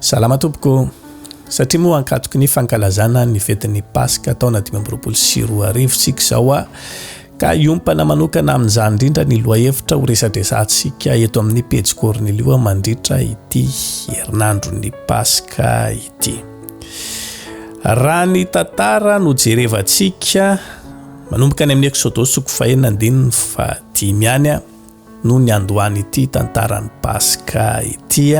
Salama tompoko. Satria moa ankatoky ny fankalazana ny fetin'ny Paska taona dimy amby roapolo sy roa arivo isika izao a, ka hiompana manokana amin'izany indrindra ny lohahevitra ho resadresantsika eto amin'ny pejy Cornelio mandritra ity herinandron'ny Paska ity. Raha ny tantara no jerevantsika manomboka any amin'ny Exodosy soko fahena andininy fahadimy any a. noho ny andohan'ity tantaran'ny Paska ity.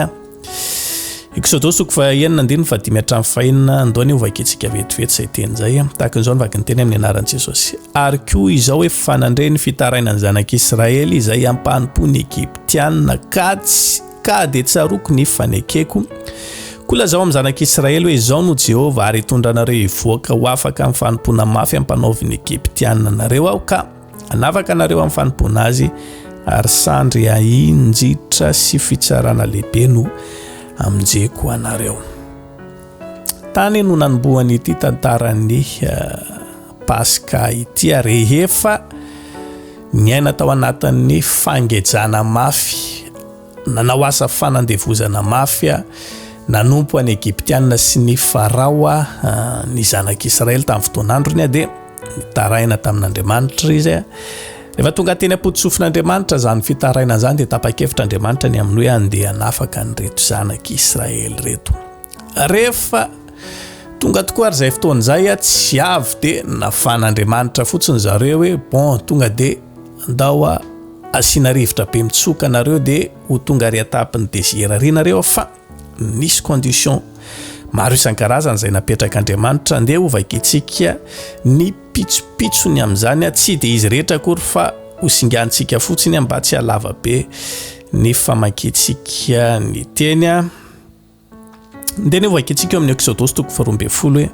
Eksodosy toko fahenina andininy fahadimy hatramin'ny fahenina, andoha anie hovakintsika vetivety izay teny izay. Tahaka an'izao ny vakin'ny teny amin'ny anaran'i Jesosy. Ary koa izao efa nandre ny fitarainan'ny zanak'Israely izay ampanompo ny Egyptiana, ka tsy ka dia tsaroako ny fanekeko. Koa lazao amin'ny zanak'Israely hoe izao no Jehovah ary hitondra anareo hivoaka ho afaka amin'ny fanompoana mafy ampanaovin'ny Egyptiana anareo aho ka Hanavaka anareo amin'ny fanompoana azy, ary sandry hahinjitra sy fitsarana lehibe no hamonjeko anareo. Tany no nanombohany ity tantaran'ny eh, Paska ity ary rehefa niaina tao anatin'ny fangejana mafy Nanao asa fanandevozana mafy nanompo an'i Egyptiana sy ny Farao ny zanak'i Israely tamin'ny fotoan'androny, dia nitaraina tamin'Andriamanitra izy. Rehefa tonga teny am-potosofin'Andriamanitra izany fitarainana izany, dia tapa-kevitra Andriamanitra ny amin'ny hoe handeha hanafaka an'ireto zanak'i Israely ireto. Rehefa tonga tokoa ary izay fotoana izay tsy avy dia nafan'Andriamanitra fotsiny zareo hoe bon tonga dia ndao a asiana rivotra be mitsoka nareo dia ho tonga ary atapin'ny désir ry nareo fa nisy condition maro isan-karazany izay napetrak'Andriamanitra ndeha ho vakintsika ny pitsopitsony amin'izany a tsy dia izy rehetra akory fa ho singantsika fotsiny mba tsy halava be ny famakintsika ny teny a Dia nevoa ankehitsiaka eo amin'ny Exodosy toko faharoa ambin'ny folo hoe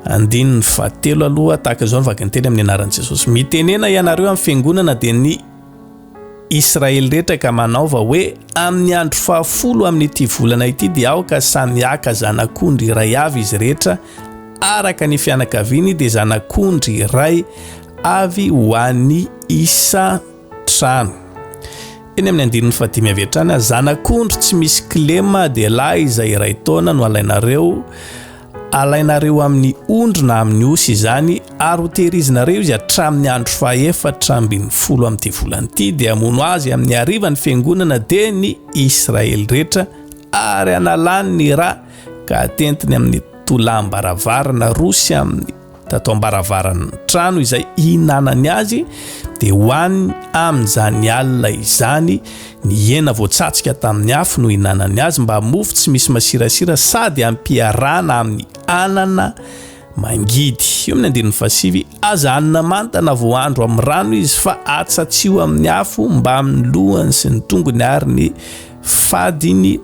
andininy fahatelo aloha tahaka izao ny vakinteny amin'ny anaran'i Jesosy. Mitenena ianareo amin'ny fiangonana dia ny Israely rehetra ka manaova hoe amin'ny andro fahafolo amin'ity volana ity dia aoka samy haka zanak'ondry iray avy izy rehetra araka ny fianakaviany dia zanak'ondry iray avy ho an'ny isa trano. Eny amin'ny andininy fahadimy avy hatrany, zanak'ondry tsy misy kilema dia lahy izay iray taona no alainareo, alainareo amin'ny ondry na amin'ny osy izany, ary hotehirizinareo izy hatramin'ny andro fahaefatra ambin'ny folo amin'ity volana ity, dia hamono azy amin'ny hariva ny fiangonana dia ny Israely rehetra, ary hanalany ny ra ka hatentiny amin'ny tolàm-baravarana roa sy amin'ny tato am-baravaran'ny trano izay ihinanany azy dia ho any amin'izany alina izany ny hena voatsatsika tamin'ny afo no ihinanany azy mba mofo tsy misy masirasira sady ampiarana amin'ny anana mangidy eo amin'ny andininy fasivy aza anina manta na voahandro amin'ny rano izy fa atsatsio amin'ny afo mba amin'ny lohany sy ny tongony ary ny Fady iny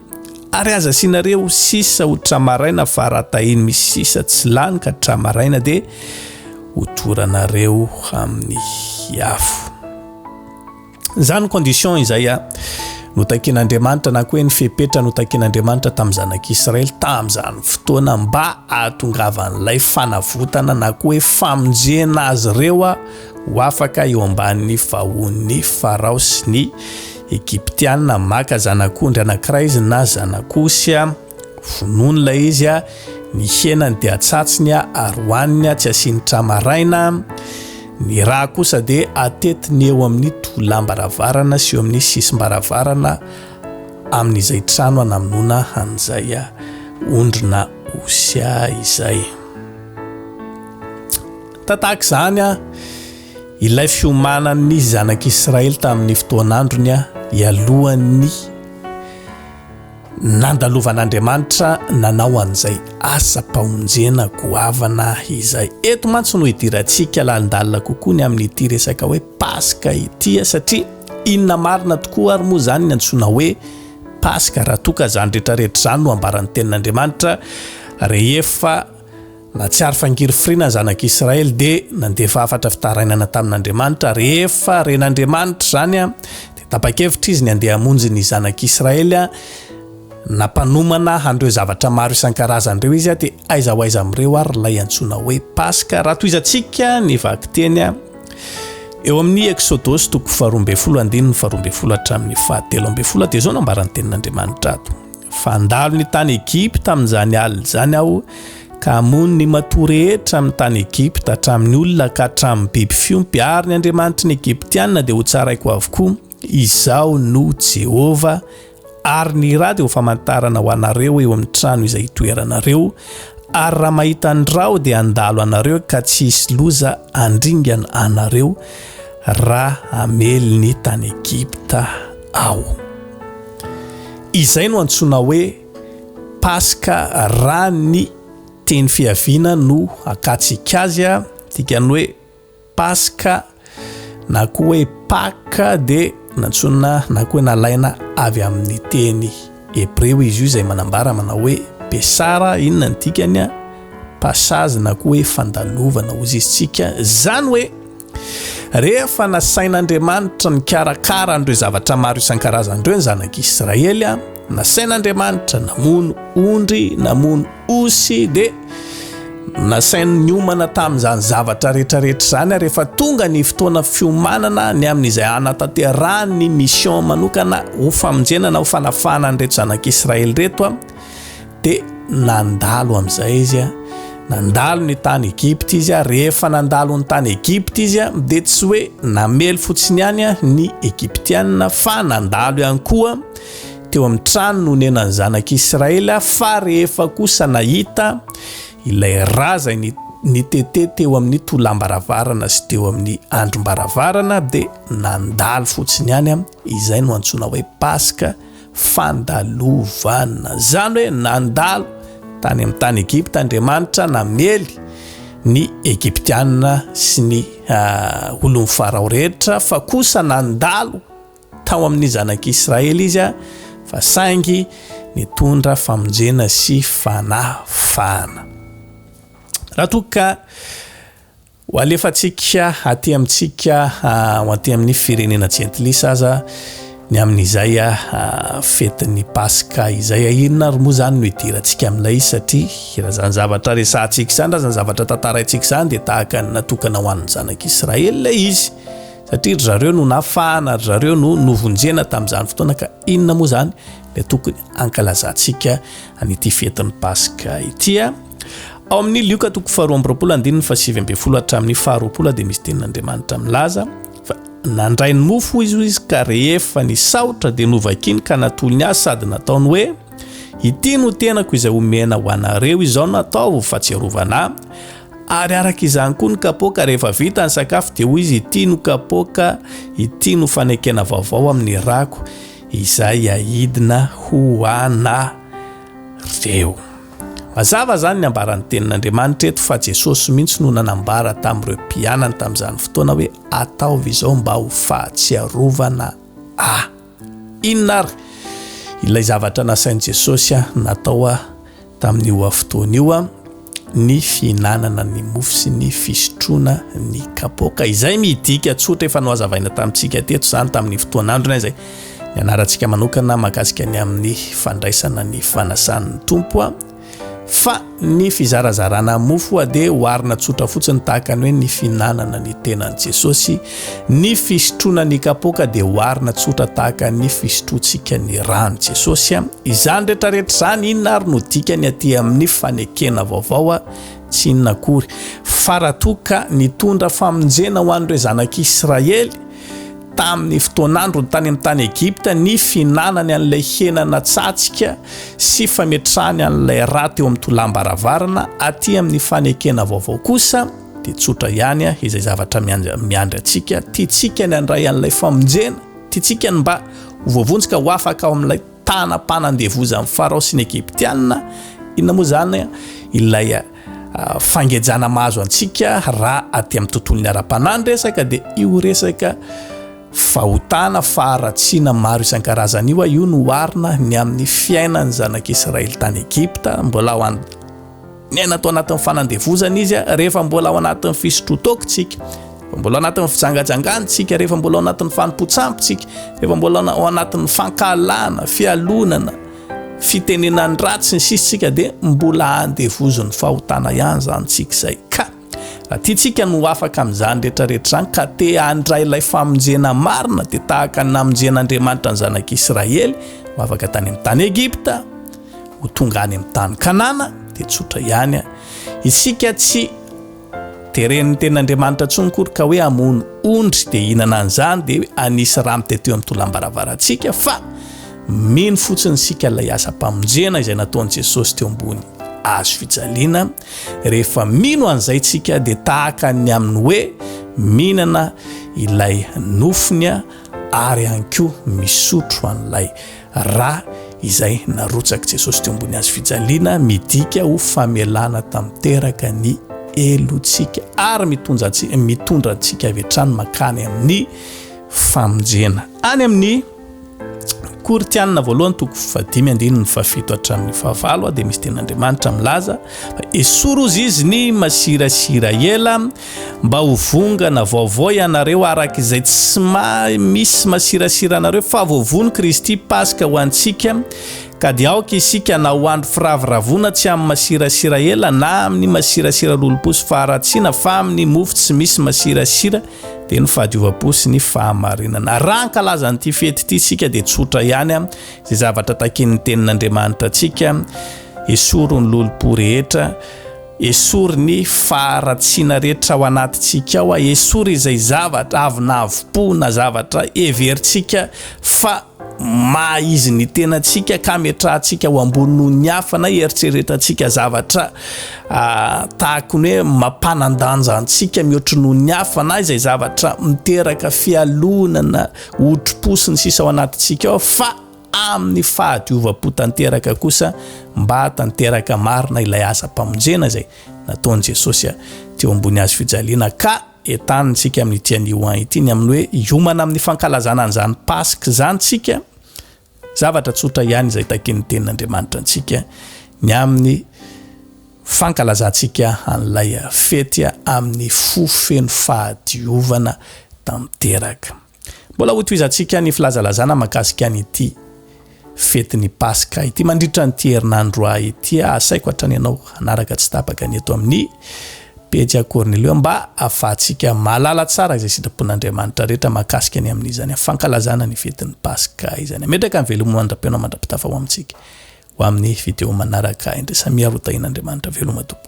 ary aza asianareo sisa ho tra-maraina fa raha tahiny misy sisa tsy lany ka tra-maraina dia ho toranareo amin'ny afo. Izany condition izay a no takian'Andriamanitra na koa hoe ny fepetra no takian'Andriamanitra tamin'ny zanak'Israely tamin'izany fotoana mba ahatongavan'ilay fanavotana na koa hoe famonjena azy ireo ho afaka eo ambanin'ny fahoan'ny Farao sy ny Egyptiana, maka zanak'ondry anankiray izy na zanak'osy, vonoiny ilay izy, ny henany dia atsatsiny ary hohaniny, tsy asiany tra-maraina, ny rà kosa dia atetiny eo amin'ny tolam-baravarana sy eo amin'ny sisim-baravarana amin'izay trano anamonoana an'izay ondry na osy izay. Tahaka izany, Ilay fiomanan' ny Zanak' Israely tamin' ny fotoan' androny ialohan' ny nandalovan' Andriamanitra nanao an' izay asam-pamonjena goavana izay. Eto mantsy no idirantsika lalindalina kokoa ny amin' ity resaka hoe Paska ity, satria inona marina tokoa ary moa izany ny antsoina hoe Paska raha toa ka izany rehetrarehetra izany no ambaran' ny Tenin' Andriamanitra rehefa Nahatsiaro fa ngirifirina ny zanak'i Israely dia nandefa hafatra fitarainana tamin'Andriamanitra. Rehefa ren'Andriamanitra izany dia tapa-kevitra izy ny handeha hamonjy ny zanak'i Israely. Nampanomana an'ireo zavatra maro isan-karazany ireo izy dia aiza ho aiza amin'ireo ary ilay antsoina hoe Paska? Raha tohizantsika ny vakiteny eo amin'ny Eksodosy toko faharoa ambin'ny folo andininy faharoa ambin'ny folo hatramin'ny fahatelo ambin'ny folo dia izao no ambaran'ny tenin'Andriamanitra ato. fa handalo ny tany Egypta amin'izany alina izany aho, ka hamono ny matoa rehetra amin'ny tany Egypta, hatramin'ny olona ka hatramin'ny biby fiompy, ary ny andriamanitry ny Egyptiana dia hotsaraiko avokoa. Izaho no Jehovah. Ary ny ra dia ho famantarana ho anareo eo amin'ny trano izay hitoeranareo, ary raha mahita ny ra aho dia handalo anareo ka tsy hisy loza handringana anareo raha hamely ny tany Egypta aho. Izay no antsoina hoe Paska raha ny teny fiaviana no akatsika azy a, dikany hoe Paska na koa hoe Paka dia nantsoina na koa hoe nalaina avy amin'ny teny hebreo izy io izay manambara manao hoe Pesara, inona ny dikany a? Passage na koa hoe fandalovana hozizintsika izany hoe. Rehefa nasain'Andriamanitra nikarakara an'ireo zavatra maro isan-karazany ireo ny zanak'i Israely, nasain'Andriamanitra namono ondry, namono osy, dia nasainy niomana tamin'izany zavatra rehetrarehetra izany ary efa tonga ny fotoana fiomanana ny amin'izay hanatanterahany ny mission manokana ho famonjena na ho fanafahana an'ireto zanak'i Israely ireto Dia nandalo amin'izay izy an, nandalo ny tany Egypta izy an, rehefa nandalo ny tany Egypta izy an, dia tsy hoe namely fotsiny ihany an ny Egyptiana fa nandalo ihany koa teo amin'ny trano nonenan'ny zanak'Israely, fa rehefa kosa nahita ilay raza ny nitete teo amin'ny tolam-baravarana sy teo amin'ny andrim-baravarana dia nandalo fotsiny ihany an, izay no antsoina hoe Paska. fandalovana. Izany hoe nandalo tany amin'ny tany Egypta Andriamanitra namely ny Egyptiana sy ny ah, olon'ny Farao rehetra fa kosa nandalo tao amin'ny zanak'Israely izy ah, fa saingy nitondra famonjena sy fanafahana. Raha toa ka Ho alefantsika aty amintsika ho aty amin'ny firenena jentilisa aza ny amin'izay fetin'ny Paska izay. Inona ary moa izany no hidirantsika amin'ilay satria raha izany zavatra resahantsika izany, raha izany zavatra tantaraintsika izany dia tahaka ny natokana ho an'ny zanak'Israely ilay izy satria ry zareo no nafahana, ry zareo no novonjena tamin'izany fotoana ka inona moa izany ilay tokony hankalazantsika an'ity fetin'ny Paska ity. Ao amin'ny Lioka toko faharoa amby roapolo andininy fahasivy ambin'ny folo hatramin'ny faharoapolo dia misy tenin'Andriamanitra milaza fa nandray ny mofo hoy izy izy ka rehefa nisaotra dia novakiny ka natolony azy sady nataony hoe ity no tenako izay omena ho anareo izao nataovo fa tsy arovana ary araka izany koa ny kapoaka rehefa vita ny sakafo dia hoy izy ity no kapoaka ity no fanekena vaovao amin'ny rako izay ahidina ho ana reo Mazava izany ny ambaran'ny Tenin'Andriamanitra eto fa Jesosy mihitsy no nanambara tamin'ireo mpianany tamin'izany fotoana hoe ataovy izao mba ho fahatsiarovana ahy. Inona ary ilay zavatra nasain'i Jesosy natao tamin'io fotoana io? Ny fihinanana ny mofo sy ny fisotroana ny kapoaka. Izay midika tsotra efa nohazavaina tamintsika teto izany tamin'ny fotoan'androny izay. Ny anarantsika manokana mahakasika ny amin'ny fandraisana ny fanasan'ny tompo a fa ny fizarazarana mofo a dia hoarina tsotra fotsiny tahaka ny hoe ny fihinanana ny tenan'i jesosy ny fisotroana ny kapoaka dia hoarina tsotra tahaka ny fisotroantsika ny rano jesosy a izany rehetrarehetra izany inona ary no dikany aty amin'ny fanekena vaovao a tsy inona akory faratoka nitondra famonjena ho an'ireo zanak'israely tamin'ny fotoan'androny tany amin'ny tany Egypta ny fihinanany an'ilay hena natsatsika sy fametrahany an'ilay ra teo amin'ny tolam-baravarana aty amin'ny fanekena vaovao kosa dia tsotra ihany a izay zavatra miandry antsika tiantsika ny handray an'ilay famonjena tiantsika ny mba ho voavonjika ho afaka ao amin'ilay tanam-panandevozan'i Farao sy ny Egyptiana, inona moa izany ilay fangejana mahazo antsika raha aty amin'ny tontolon'ny ara-panahy ny resaka dia io resaka fahotana, faharatsiana maro isan-karazany io, io no oharina ny amin'ny fiainan'ny zanak'Israely tany Egypta, mbola ao an-. Niaina tao anatin'ny fanandevozana izy rehefa mbola ao anatin'ny fisotroan-taokontsika, rehefa mbola ao anatin'ny fijangajangantsika, rehefa mbola ao anatin'ny fanompoan-tsampontsika, rehefa mbola ao anatin'ny fankahalana, fialonana, fitenenan-dratsy ny sisitsika dia mbola andevozin'ny fahotana ihany izany tsika izay ka. Tiantsika ny ho afaka amin'izany rehetrarehetra izany, ka te handray ilay famonjena marina, dia tahaka ny namonjen'Andriamanitra ny zanak'Israely ho afaka tany amin'ny tany Egypta, ho tonga any amin'ny tany Kanana, dia tsotra ihany. Isika tsy teren'ny tenin'Andriamanitra intsony kory ka hoe hamono ondry dia hinana an'izany dia anisy rano tety eo amin'ny tolam-baravarantsika fa mino fotsiny isika ilay asa-pamonjena izay nataon'i Jesosy teo ambony hazo fijaliana, Rehefa mino an'izay isika dia tahaka ny amin'ny hoe mihinana ilay nofony ary ihany koa misotro an'ilay rà izay narotsak'i Jesosy teo ambony hazo fijaliana, midika ho famelana tanteraka ny helotsika ary mitondra antsika avy hatrany mankany amin'ny famonjena any amin'ny Korintianina voalohany toko fahadimy andininy fahafito hatramin'ny fahavalo dia misy ten'Andriamanitra milaza fa esory ozy izy ny masirasira ela mba ho vongana vaovao ianareo araka izay tsy maha misy masirasira anareo fa voavono Kristy Paska ho antsika ka dia aoka isika na ho andro firaviravona tsy amin'ny masirasira ela na amin'ny masirasira lolomposy faharatsiana fa amin'ny mofo tsy misy masirasira dia ny fahadiovam-po sy ny fahamarinana. Raha hankalaza an'ity fety ity isika dia tsotra ihany izay zavatra takian'ny tenin'Andriamanitra antsika, esory ny lolompo rehetra, esory ny faharatsiana rehetra ao anatintsika ao, esory izay zavatra avy na avim-po na zavatra heverintsika fa maha izy ny tenantsika ka ametrahantsika ho ambony noho ny hafa na hieritreretantsika zavatra tahaka ny hoe mampanan-danja antsika mihoatry noho ny hafa na izay zavatra miteraka fialonana otri-po sy ny sisa ao anatintsika ao fa amin'ny fahadiovam-po tanteraka kosa mba hatanteraka marina ilay asa-pamonjena izay nataon'i Jesosy teo ambony hazo fijaliana ka Entanintsika amin'ity anio an ity ny amin'ny hoe hiomana amin'ny fankalazana an'izany Paska izany isika, zavatra tsotra ihany izay takian'ny Tenin'Andriamanitra antsika ny amin'ny fankalazantsika an'ilay fety amin'ny fo feno fahadiovana tanteraka. Mbola hotohizantsika ny filazalazana mahakasika an'ity fetin'ny Paska ity mandritra an'ity herinandro ity. Asaiko hatrany ianao hanaraka tsy tapaka ny eto amin'ny pejy Cornelio mba ahafahantsika mahalala tsara izay sitrapon'Andriamanitra rehetra mahakasika ny amin'izany fankalazana ny fetin'ny Paska izany. Ametraka ny veloma mandra-pihaona mandra-pitafa ho amintsika ho amin'ny video manaraka indray. Samia rotahin'Andriamanitra veloma tompoko.